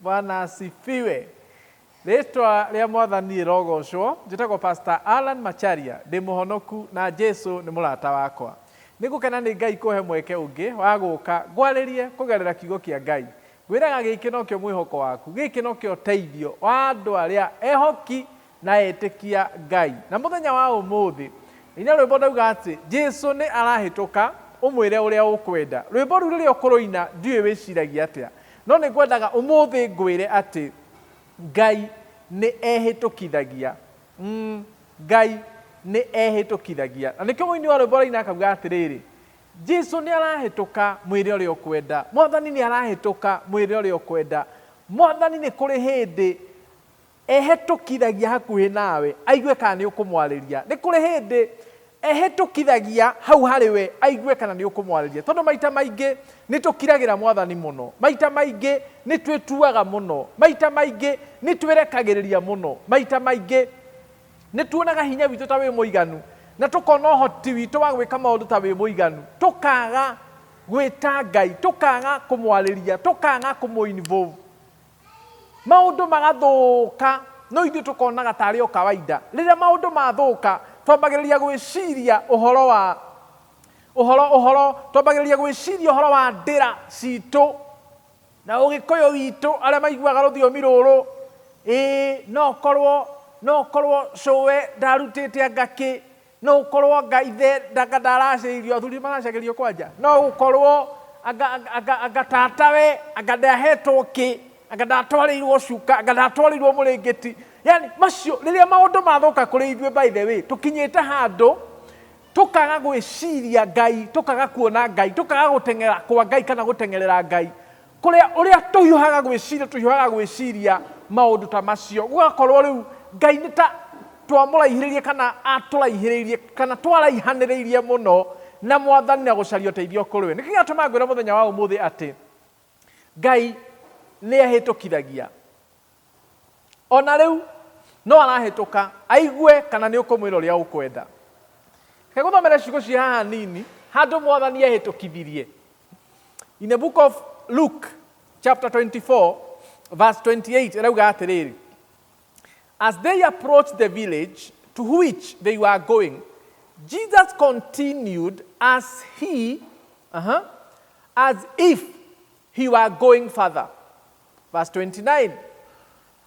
Bwana asifiwe. Rĩtwa rĩa mwathani rĩrogocwo. Njĩtagwo Pastor Allan Macharia. Ndĩ mũhonoku na Jesu nĩ mũrata wakwa. Nĩ ngũkena nĩ Ngai kũhe mweke ũngĩ wa gũka ngwarĩrie kũgerera kiugo kĩa Ngai. Ngwĩraga gĩkĩ nokĩo mwĩhoko waku. Gĩkĩ nokĩo ũteithio wa andũ arĩa ehoki na etĩkia Ngai. Na mũthenya wa ũmũthĩ ina rwĩmbo ndauga atĩ Jesu nĩ arahĩtũka ũmwĩre ũrĩa ũkwenda. Rwĩmbo rũu rĩrĩa ũkũrũina ndiũĩ wĩciragia atĩa, no nĩ ngwendaga ũmũthĩ ngwĩre atĩ Ngai nĩ ehĩtũkithagia. Mm, Ngai nĩ ehĩtũkithagia. Na nĩkĩo mũini wa rwĩmbo araina akauga atĩrĩrĩ, Jesu nĩ arahĩtũka mwĩre ũrĩa ũkwenda. Mwathani nĩ arahĩtũka mwĩre ũrĩa ũkwenda. Mwathani nĩ kũrĩ hĩndĩ Ehĩtũkithagia hakuhĩ nawe, aigue kana nĩ ũkũmwarĩria. Nĩ kũrĩ hĩndĩ ehĩtũkithagia hau harĩ we, aigue kana nĩ ũkũmwarĩria. Tondũ maita maingĩ nĩ tũkiragĩra Mwathani mũno, maita maingĩ nĩ twĩtuaga mũno, maita maingĩ nĩ twĩrekagĩrĩria mũno, maita maingĩ nĩ tuonaga hinya witũ ta wĩ mũiganu, na tũkona ũhoti witũ wa gwĩka maũndũ ta wĩ mũiganu, tũkaga gwĩta Ngai, tũkaga kũmwarĩria, tũkaga kũmũ involve. Maũndũ magathũka, no ithuĩ tũkonaga tarĩ o kawaida. Rĩrĩa maũndũ mathũka, twambagĩrĩria gwĩciria ũhoro wa, ũhoro, ũhoro, twambagĩrĩria gwĩciria ũhoro wa ndĩra citũ, na ũgĩkũyũ witũ, arĩa maiguaga rũthiomi rũrũ, ĩĩ, no ũkorwo, no ũkorwo cũwe ndarutĩte anga kĩ, No gũkorwo anga ithe ndanga ndaracĩirio athuri maracagĩrio kwanja no gũkorwo anga, anga, anga, anga tatawe anga ndahetwo kĩ anga ndatwarĩirwo cuka anga ndatwarĩirwo mũrĩngĩti yani macio rĩrĩa maũndũ mathũka kũrĩ ithuĩ by the way tũkinyĩte handũ tũkaga gwĩciria ngai tũkaga kuona ngai tũkaga gũteng'era kwa ngai kana gũteng'erera ngai Kũrĩa ũrĩa tũhiũhaga gwĩciria, tũhiũhaga gwĩciria maũndũ ta macio. Gũgakorwo rĩu Ngai nĩ ta twamũraihĩrĩirie kana atũraihĩrĩirie kana twaraihanĩrĩirie mũno na mwathani na gũcaria ũteithio kũrĩ we. Nĩkĩo gĩatũma ngwĩra mũthenya wa ũmũthĩ atĩ Ngai nĩ ahĩtũkithagia. O na rĩu, no arahĩtũka, aigue kana nĩ ũkũmwĩra ũrĩa ũkwenda. Reke gũthomere ciugo cia haha nini, handũ mwathani ehĩtũkithirie. In the book of Luke, chapter 24, verse 28, ĩrauga atĩrĩrĩ, As they approached the village to which they were going, Jesus continued as he, uh-huh, as if he were going further. Verse 29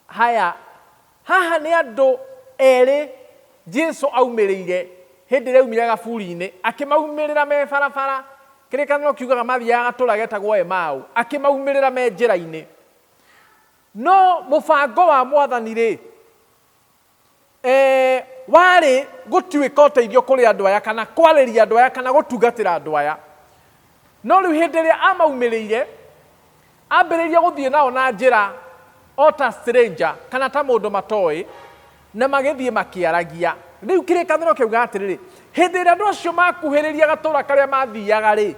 haya haha nĩ andũ erĩ jesu aumĩrĩire hĩndĩ ĩrĩa aumire gaburi-inĩ akĩmaumĩrĩra me barabara kĩrĩkanĩro kiugaga mathiaga gatũra getagwo emau akĩmaumĩrĩra me njĩra-inĩ no mũbango wa mwathani rĩ Ee, warĩ gũtuĩka ũteithio kũrĩ andũ aya, kana kwarĩria andũ aya, kana gũtungatĩra andũ aya. No rĩu hĩndĩ ĩrĩa amaumĩrĩire, ambĩrĩirie gũthiĩ nao na njĩra o ta stranger, kana ta mũndũ matoĩ, na magĩthiĩ makĩaragia. Rĩu kĩrĩkanĩro kĩauga atĩrĩrĩ, hĩndĩ ĩrĩa andũ acio makuhĩrĩria gatũũra karĩa mathiaga-rĩ,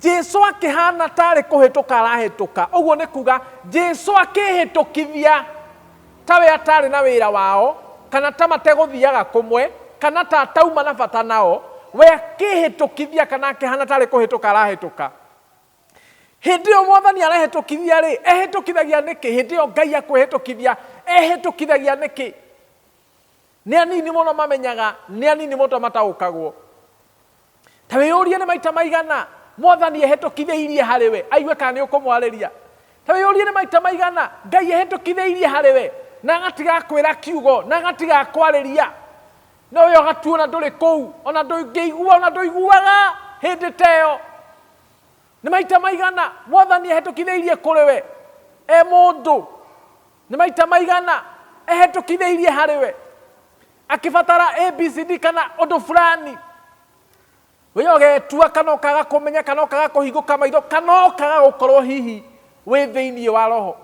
Jesu akĩhana ta arĩ kũhĩtũka arahĩtũka. Ũguo nĩ kuga Jesu akĩhĩtũkithia ta we atarĩ na wĩra wao, kana ta mategũthiaga kũmwe, kana ta atauma na bata nao, we akĩhĩtũkithia kana akĩhana ta arĩ kũhĩtũka arahĩtũka. Hĩndĩ ĩyo mwathani arehĩtũkithia rĩ, ehĩtũkithagia nĩkĩ? Hĩndĩ ĩyo Ngai akwĩhĩtũkithia, ehĩtũkithagia nĩkĩ? Nĩ anini mũno mamenyaga, nĩ anini mũno mataũkagwo. Ta wĩyũrie nĩ maita maigana Mwathani ehĩtũkithĩirie harĩ we, aigue kana nĩ ũkũmwarĩria. Ta wĩyũrie nĩ maita maigana Ngai ehĩtũkithĩirie harĩ we, na agatiga akwĩra kiugo, na agatiga akwarĩria. No we ũgatuona ndũrĩ kũu, ona ndũngĩigua, ona ndũiguaga hĩndĩ ta ĩyo. Nĩ maita maigana Mwathani ehĩtũkithĩirie kũrĩ we, e mũndũ. Nĩ maita maigana ehĩtũkithĩirie harĩ we. akĩbatara abcd kana ũndũ fulani we ũgetua kana ũkaga kũmenya kana ũkaga kũhingũka maitho kana ũkaga gũkorwo hihi wĩ thĩinĩ wa roho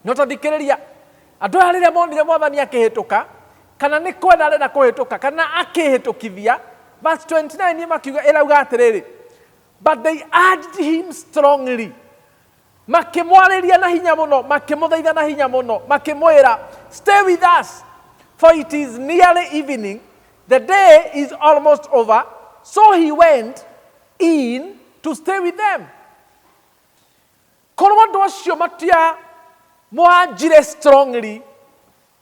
no tathikĩrĩria andũ aya rĩrĩa monire mwathani akĩhĩtũka kana nĩ kwenda arenda kũhĩtũka kana akĩhĩtũkithia verse 29 makiuga ĩrauga atĩrĩrĩ but they urged him strongly Makĩmwarĩria na hinya mũno, makĩmũthaitha na hinya mũno, makĩmwĩra, Stay with us, for it is nearly evening, the day is almost over. So he went in to stay with them. Korwo andũ acio matiamwanjire strongly,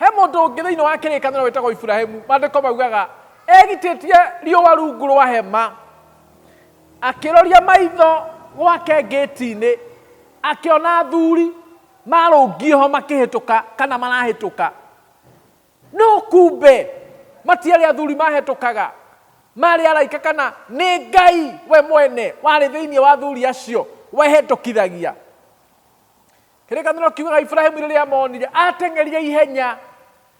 he mũndũ ũngĩ thĩinĩ wa kĩrĩkanĩro wĩtagwo iburahimu mandĩko maugaga egitĩtie riũa rungu rwa hema akĩroria maitho gwake ngĩti-inĩ akĩona athuri marũngiĩ ho makĩhĩtũka kana marahĩtũka no kumbe matiarĩ athuri mahĩtũkaga marĩ araika kana nĩ ngai we mwene warĩ thĩinĩ wa athuri acio wehĩtũkithagia kĩrĩkanĩro kiugaga iburahimu rĩrĩa amonire ateng'eria ihenya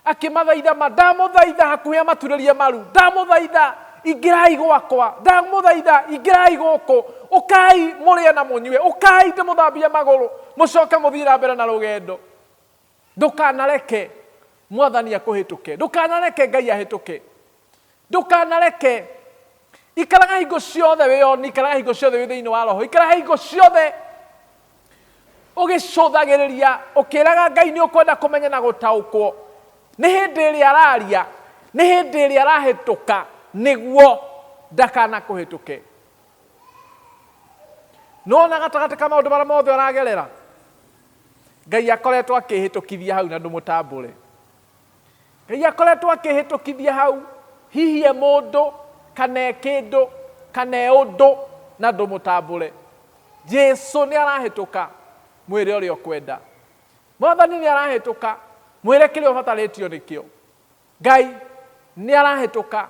akĩmathaitha ma ndamũthaitha hakuhĩ amaturĩrie maru ndamũthaitha ingĩrai gwakwa ndamũthaitha ingĩrai gũkũ ũkai mũrĩe na mũnyue ũkai ndĩmũthambie magũrũ mũcoke mũthiĩ na mbere na rũgendo ndũkanareke mwathani akũhĩtũke ndũkanareke ngai ahĩtũke Ndũkanareke. Ikaraga hingo ciothe wĩ oni, ikaraga hingo ciothe wĩ thĩinĩ wa roho, ikaraga hingo ciothe ũgĩcũthagĩrĩria ũkĩraga Ngai nĩ ũkwenda kũmenya na gũtaũkwo nĩ hĩndĩ ĩrĩa araria, nĩ hĩndĩ ĩrĩa arahĩtũka nĩguo ndakanakũhĩtũke. Nona gatagatĩ ka maũndũ marĩa mothe ũragerera, Ngai akoretwo akĩhĩtũkithia hau na ndũmũtambũre. Ngai akoretwo akĩhĩtũkithia hau, hihi e mũndũ, kana e kĩndũ, kana e ũndũ, na ndũmũtambũre. Jesu nĩ arahĩtũka, mwĩre ũrĩa ũkwenda. Mwathani nĩ arahĩtũka, mwĩre kĩrĩa ũbatarĩtio nĩkĩo. Ngai nĩ arahĩtũka,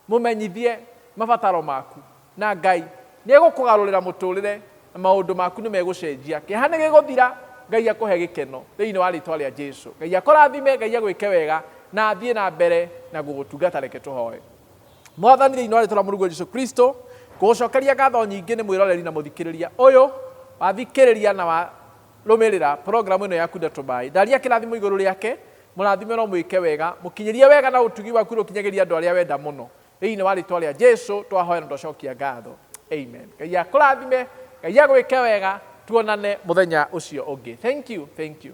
Mũmenyithie mabataro maku, na Ngai nĩ egũkũgarũrĩra mũtũũrĩre na maũndũ maku nĩ megũcenjia. Kĩeha nĩ gĩgũthira. Ngai akũhe gĩkeno thĩinĩ wa rĩĩtwa rĩa Jesu. Ngai akũrathime, Ngai agwĩke wega na athiĩ na mbere na gũgũtungata. Reke tũhoe. Mwathani, thĩinĩ wa rĩĩtwa rĩa Mũrũguo Jesu Kristo, ngũgũcokeria ngatho nyingĩ nĩ mwĩroreri na mũthikĩrĩria ũyũ wathikĩrĩria na warũmĩrĩra programu ĩno yaku Ndeto By. Ndaria kĩrathimo igũrũ rĩake, Mũrathime no mwĩke wega, mũkinyĩrie wega na ũtugi waku nĩ ũkinyagĩria andũ arĩa wenda mũno. Thĩinĩ wa rĩtwa rĩa Jesu twahoya na twacokia ngatho. Amen. Ngai akũrathime, Ngai agwĩke wega, tuonane mũthenya ũcio ũngĩ. Thank you, thank you.